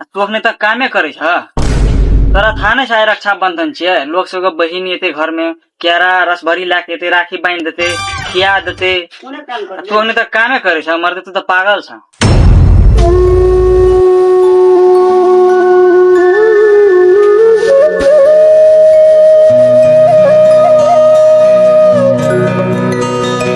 आ तू अखने तक कामे करे छ तोरा था ने शायद रक्षाबंधन छे लोग सब के बहिन एते घर में केरा रस भरी ला के एते राखी बांध देते खिया देते कोने काम आ कर तू अखने तक कामे करे छ मर्द तू तो पागल छ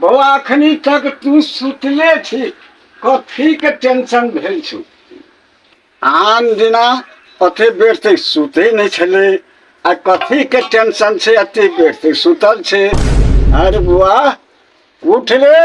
बौआ अखनी तक तू सुतले छी कथी के टेंशन भेल छौ आन दिना अते बेर तक सुते नहीं छले आ कथी के टेंशन से अते बेर तक सुतल छे अरे बुआ उठ रे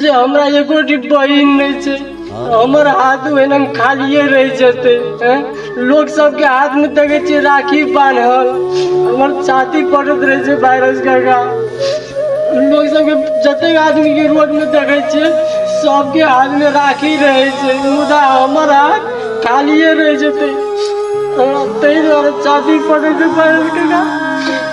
जे हमरा एगो बहिन नहि छै हमर हाथ ओहिना खालिए रहि जेतै एँ? लोक सबके हाथमे देखै छियै राखी बान्हल हमर छाती पड़ैत रहै छै वायरस काका लोक सबके जतेक आदमीके रोडमे देखै छियै सबके हाथमे राखी रहै छै मुदा हमर हाथ खालिए रहि जेतै हमरा ताहि दुआरे छाती पड़ै छै वायरस काका